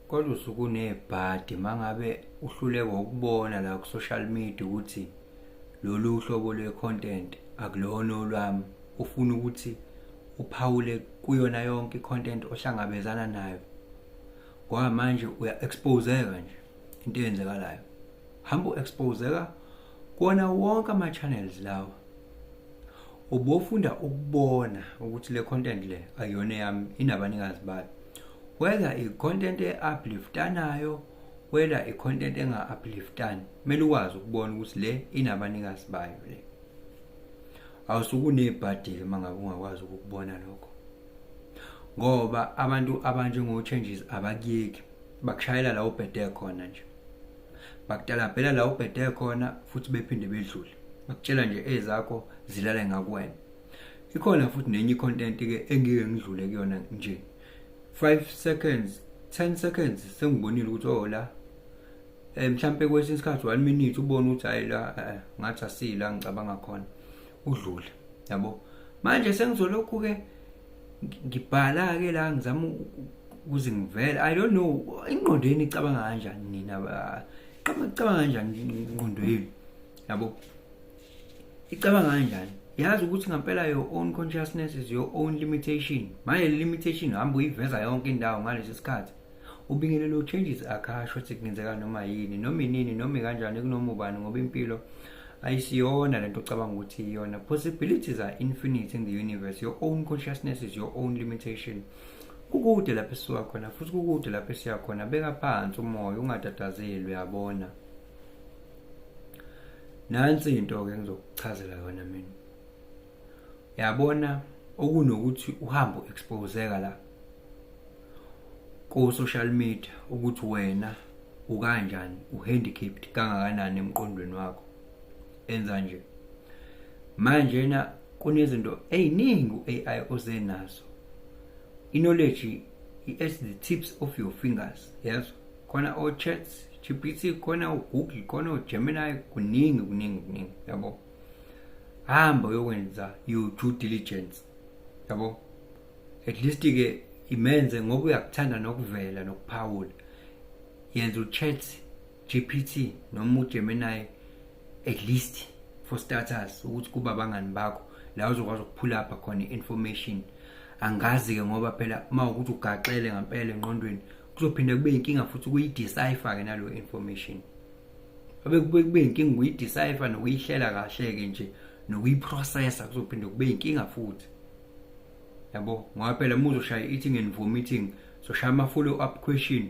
Kodwa usuke unebhadi mangabe uhluleka ukubona la ku-social media ukuthi lolu hlobo lwe-content akulona olwami ufuna ukuthi uphawule kuyona yonke i-content ohlangabezana nayo ngoba manje uya-exposeka nje into eyenzekalayo hamba u-exposeka kuwona wonke ama-channels lawa ubofunda ukubona ukuthi le content le ayiyona eyami inabanikazi bayo whether i-content e-upliftanayo whether i-content enga-upliftani kumele ukwazi ukubona ukuthi le inabanikazi bayo le awusukunebhadi-ke uma ngabe ungakwazi ukukubona lokho ngoba abantu abanjengo-changes abakuyeki bakushayela la ubhede khona nje bakutalabhela la ubhede khona futhi bephinde bedlule akutshela nje ezakho zilale ngakuwena ikhona futhi nenye icontent ke engike ngidlule kuyona nje 5 seconds 10 seconds sengibonile ukuthi oh la eh mhlambe kwesinye isikhathi 1 minute ubona ukuthi hayi la eh, eh, ngathi asila ngicabanga khona udlule yabo manje sengizolokhu ke ngibhala ke la ngizama ukuze ngivele i don't know ingqondo yenu icabanga kanjani nina qaba icabanga kanjani ingqondo yenu yabo icabanga kanjani yazi ukuthi ngampela your own consciousness is your own limitation manje le limitation hamba uyiveza yonke indawo ngalesi sikhathi ubingelele uchanges akhasho ukuthi kungenzeka noma yini noma inini noma kanjani kunoma ubani ngoba impilo ayisiyona lento ocabanga ukuthi iyona possibilities are infinite in the universe your own consciousness is your own limitation kukude lapho esuka khona futhi kukude lapho esiya khona beka phansi umoya ungatatazeli uyabona nansi into-ke ngizokuchazela yona mina yabona okunokuthi uhambe u-exposeka la ku-social media ukuthi wena ukanjani uhandicapped kangakanani emqondweni wakho enza nje manje na kunezinto eziningi u-AI oze nazo i-knowledge is the tips of your fingers yazo khona o-chats gpt khona ugoogle khona ugemini kuningi kuningi kuningi yabo hamba uyokwenza you-due diligence yabo at least-ke imenze ngoba uyakuthanda nokuvela nokuphawula yenza u-chat gpt noma ugemini at least for starters ukuthi kuba abangani bakho la uzokwazi ukuphula apha khona i-information angazi-ke ngoba phela uma ukuthi ugaxele ngempela enqondweni kuzophinde kube inkinga futhi ukuyidecipher ke nalo information abe kube kube inkinga ukuyidecipher nokuyihlela kahle ke nje nokuyiprocessa kuzophinde kube inkinga futhi yabo ngoba phela muzoshaya eating and vomiting soshaya ama follow up question